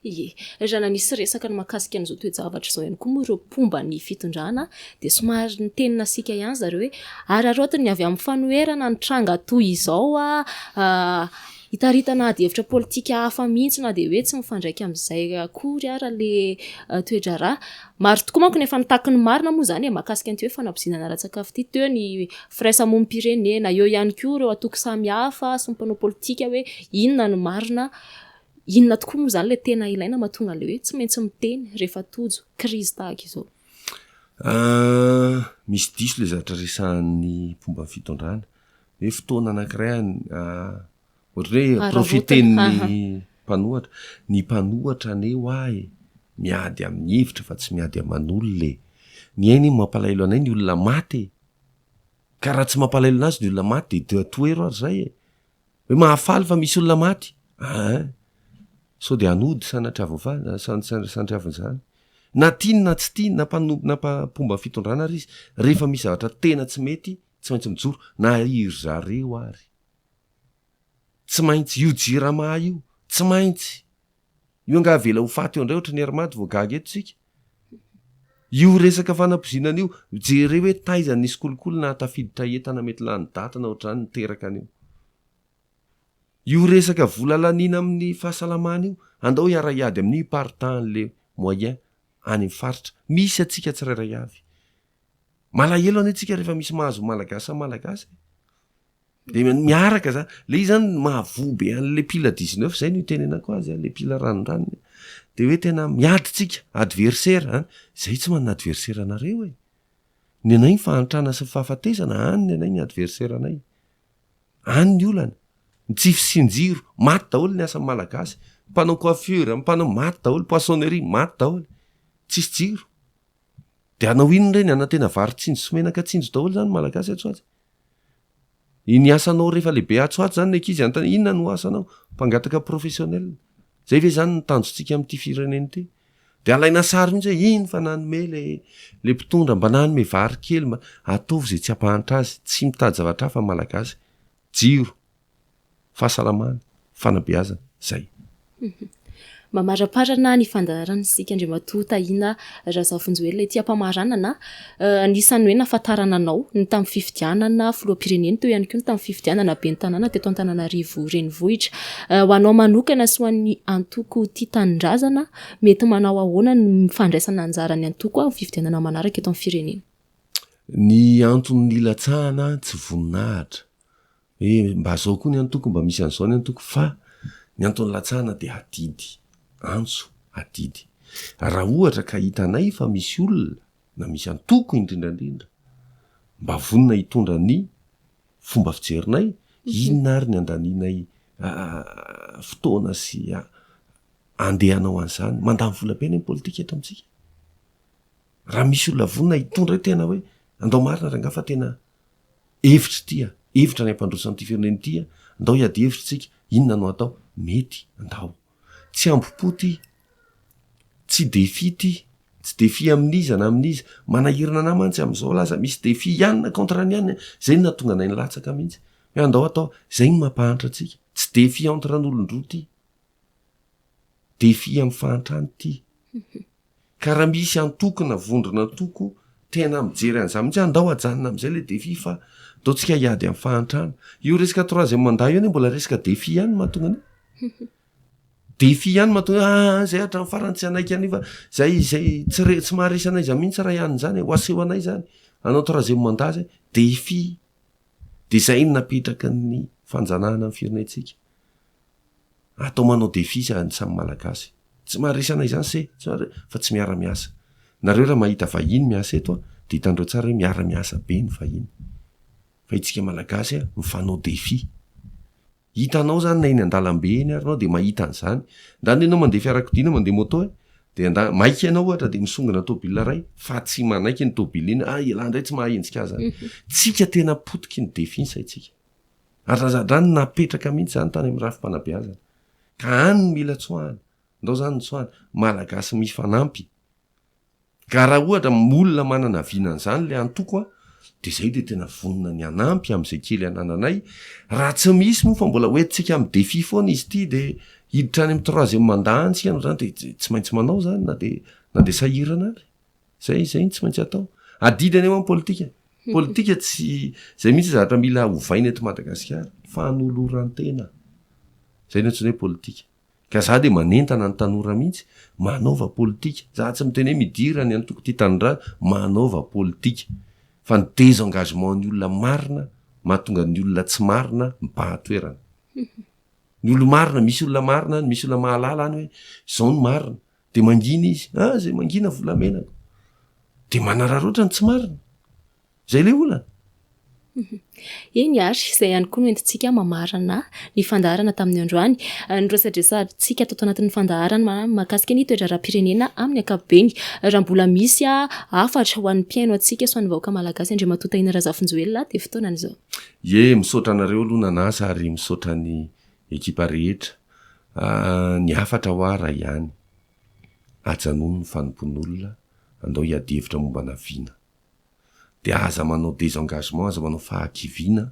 Ie, raha nanisy resaka ny mahakasika an'izao toe-javatra izao ihany koa moa ireo mpomba ny fitondrana dia somary niteny nasiaka ihany zareo hoe araraoty ny avy amin'ny fanoherana ny tranga toy izao ah, hitaritana ady hevitra politika hafa mihitsy na dia hoe tsy mifandraika amin'izay akory ara le toedraharaha. Maro tokoa manko ny efa nitaky ny marina moa izany e, mahakasika an'ity hoe fanabozina ara-tsakafo ity, teo ny firaisamonim-pirenena, eo ihany koa ireo antoko samihafa sy ny mpanao politika hoe inona no marina, inona tokoa moa izany ilay tena ilaina mahatonga an'ilay hoe tsy maintsy miteny rehefa tojo krizy tahaka izao. Misy diso ilay zavatra resahan'ny mpomba ny fitondrana hoe fotoana anankiray Ohatry ny hoe profiter ny mpanohatra. Ny mpanohatra anie hoa e, miady amin'ny hevitra fa tsy miady aman'olona e. Ny aina iny mampalahelo anay ny olona maty e. Ka raha tsy mampalahelo anazy ny olona maty dia dia tohero ary izay e. Hoe mahafaly fa misy olona maty? Aa! Sao dia hanody sanatria voafaly, sanatria avy izany. Na tiany na tsy tiany, na mpano, na mpa, mpomba fitondrana ary izy, rehefa misy zavatra tena tsy mety, tsy maintsy mijoro, na i ry zareo ary. Tsy maintsy io jirama io, tsy maintsy. Io angaha avela ho faty eo indray ohatry ny Air Mad vao gaga eto tsika. Io resaka fanapozinana io, jereo hoe taiza ny nisy kolikoly nahatafiditra entana mety lany daty na ohatr'izany niteraka an'io. Io resaka vola laniana amin'ny fahasalamana io, andao hiara hiady amin'io i par temps les moyens any amin'ny faritra. Misy antsika tsirairay avy. Malahelo anie tsika rehefa misy mahazo ny Malagasy amin'ny Malagasy e. De miaraka zany. Le izy zany mahavoa be an'le pila dix neuf zay no itenenako azy an, le pila ranondranony an. De hoe tena miady tsika, adversaire an. Zahay tsy manana adversaire anareo e! Ny anay ny fahantrana sy ny fahafatesana, any ny anay ny adversaire anay. Any ny olana. Ny tsy fisian-jiro, maty daholo ny asan'ny Malagasy. Mpanao coiffure, mpanao, maty daholo, poissonnerie, maty daholo. Tsisy jiro. De hanao inona re ny hanantena vary tsinjo sy menaka tsinjo daholo zany ny malagasy atsy ho atsy? Iny asanao rehefa lehibe atsy ho atsy zany ny ankizy hanontaniana inona no asanao? Mpangataka professionnel. Zay ve zany ny tanjontsika amin'ity firenena ity? De alaina sary mihitsy hoe iny fa nanome le le mpitondra mba nanome vary kely mba ataovy zay tsy hampahantra azy, tsy mitady zavatra hafa ny malagasy. Jiro. fahasalamana, fanabeazana, izay. Mamaramparana ny fandaharana isika Andriamatoa Tahina Razafinjoelina ety am-pamaranana. Anisan'ny hoe nahafantarana anao ny tamin'ny fifidianana filoham-pirenena teo ihany koa ny tamin'ny fifidianana ben'ny tanàna teto Antananarivo renivohitra. Ho anao manokana sy ho an'ny antoko Tia Tanindrazana, mety manao ahoana ny fandraisana anjara ny antoko amin'ny fifidianana manaraka eto amin'ny firenena? Ny anton'ny nilatsahana tsy voninahitra. hoe mba zao koa ny antoko mba misy an'izao ny antoko fa ny antony latsahana dia adidy antso adidy raha ohatra ka hitanay fa misy olona na misy antoko indrindra indrindra mba vonona hitondra ny fomba fijerinay inona ary ny andaninay fotoana sy andehanao an'izany mandany vola be ny politika eto amintsika raha misy olona vonona hitondra tena hoe andao marina rangaha fa tena Hevitra ity an! Hevitra ny hampandroso an'ity firenena ity an! Andao hiady hevitra isika, inona no hatao? Mety, andao. Tsy hambom-po ity, tsy défi ity, tsy défi amin'iza na amin'iza. Manahirana anah mantsy amin'izao laza misy défi ihany na contre ny ihany, izay no nahatonga anay nilatsaka mihitsy. Hoe andao hatao, izay no mampahantra antsika. Tsy défi entre an'olon-droa ity. Défi amin'ny fahantrana ity. Ka raha misy antoko na vondron'antoko tena mijery an'izany mihitsy hoe andao ajanona amin'izay ilay défi fa ataontsika hiady amin'ny fahantrana. Io resaka troisième mandat io anie mbola resaka défi ihany no mahatonga an'io. Défi ihany no mahatonga hoe aah izay hatramin'ny farany tsy hanaiky an'io fa izay izay tsy re- tsy maharesy anay izany mihitsy raha hiany izany e, ho aseho anay izany hanao troisième mandat izay. Défi. Dia izay no napetraky ny fanjanahana ny firenentsika. Atao manao défi izany ny samy Malagasy. Tsy maharesana izany se fa tsy miara miasa. Nareo raha mahita vahiny miasa eto dia hitanareo tsara hoe miara miasa be ny vahiny. Fa itsika Malagasy mifanao défi. Hitanao izany na eny andalambe eny ary ianao dia mahita an'izany. Ndany ianao mandeha fiarakodia na mandeha moto e, dia ndany maika ianao ohatra dia misongona tôbila iray fa tsy manaiky iny tôbila iny, ah ialahy indray tsy maha enjika azy zany. Tsika tena potiky ny défi ny saintsika. ary razadràny napetraka mihitsy izany tany amin'ny rafi-panabeazana ka any no mila tsoahana, ndao izany ny tsoahana, Malagasy mifanampy, ka raha ohatra olona manana vina an'izany ilay antoko an, dia izahay dia tena vonona ny hanampy amin'izay kely anananay, raha tsy misy moa fa mbola hoentintsika amin'ny défi foana izy ity dia hiditra any amin'ny troisième mandat any isika noho izany dia tsy maintsy manao izany na dia na dia sahirana ary. Zay izay no tsy maintsy atao. Adidy any amin'ny politika. Politika tsy zay mihitsy zavatra mila hovaina eto Madagasikara. Fanoloran-tena. Zay no antsoina hoe politika. Ka za dia manentana ny tanora mihitsy, manaova politika. Za tsy miteny hoe midira ny antoko Tia Tanindrazana, manaova politika. Fa ny désengagement ny olona marina mahatonga ny olona tsy marina mibahan-toerana. Ny olona marina, misy olona marina any, misy olona mahalala any hoe zao ny marina. Dia mangina izy, ah zay mangina volamenako. Dia manararaotra ny tsy marina. Zay le olana. Eny ary, izay ihany koa no entintsika mamarana ny fandaharana tamin'ny androany. Ah, ny resadresantsika tato anatin'ny fandaharana mahakasika ny toe-draharaham-pirenena amin'ny ankapobeny. Raha mbola misy ah, hafatra ho an'ny mpihaino antsika sy ho an'ny vahoaka malagasy Andriamatoa Tahina Razafinjoelina dia fotoanan'izao. Ie, misaotra anareo aloha nanasa ary misaotra ny Ekipa rehetra, ny hafatra hoa raha ihany. Ajanony ny fanompoan'olona, andao hiady hevitra momba ana vina. Dia aza manao désengagement, aza manao fahakiviana,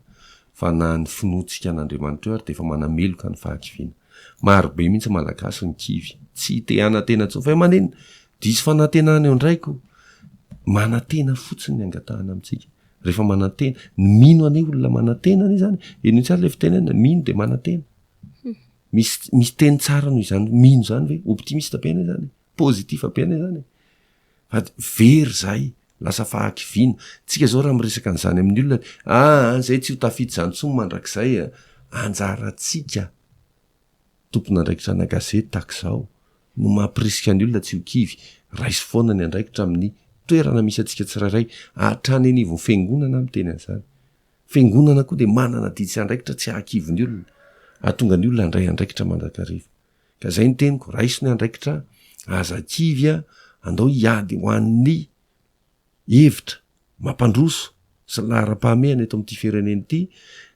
fa na ny finoantsika an'Andriamanitra eo ary dia efa manameloka ny fahakiviana. Maro be mihitsy Malagasy no kivy, tsy te hanantena intsony, fa maninn diso fanantenana eo ndraiko? Manantena fotsiny ny angatahana amintsika. rehefa manantena ny mino anie olona manantena anie zany eno intsary le fitenena mino de manantena misy misy teny tsara noho izany mino zany hoe optimiste be anie zany positif be anie zany ady very zay lasa fahakivina tsika zao raha miresaka an'izany amin'ny olona aa ah, zay tsy ho tafita zany tso mandrakizay a anjaratsika Tompon'andraikitranà gazety tahaka izao no mampirisika ny olona tsy ho kivy. Raiso foana ny andraikitra amin'ny toerana misy antsika tsirairay, hatrany anivon'ny fiangonana aho miteny an'izany. Fiangonana koa dia manana didy sy andraikitra tsy hahakivy ny olona, hahatonga ny olona handray andraikitra mandrakariva. Ka izay ny teniko, raiso ny andraikitra, aza kivy, andao hiady ho an'ny hevitra mampandroso sy laharam-pahamehana eto amin'ity firenena ity,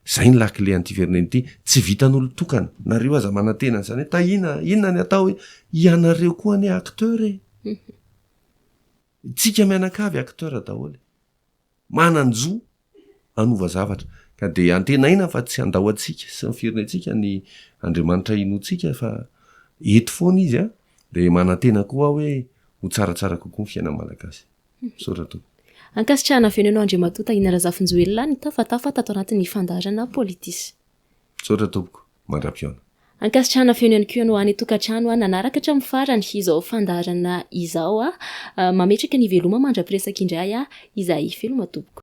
izay ny lakile an'ity firenena ity, tsy vitan'olon-tokana, na reo aza manantena an'izany hoe tahiana, inona ny atao e? ianareo koa anie acteur e! Isika mianakavy acteur daholo e! mananjo hanova zavatra. Ka dia antenaina fa tsy handao antsika sy ny firenentsika ny Andriamanitra inoantsika fa eto foana Izy an! Dia manantena koa aho hoe ho tsaratsara kokoa ny fiainan'ny Malagasy. Misaotra tompoko. Ankasitrahana avy eo ny anao Andriamatoa Tahina Razafinjoelina nitafatafa tato anatin'ny fandaharana Politis. Misaotra tompoko, mandra-pihaona. Ankasitrahana feno ihany koa ny ho any tokantrano nanaraka hatramin'ny farany izao fandaharana izao. Mametraka ny veloma mandra-piresaka indray izahay veloma tompoko.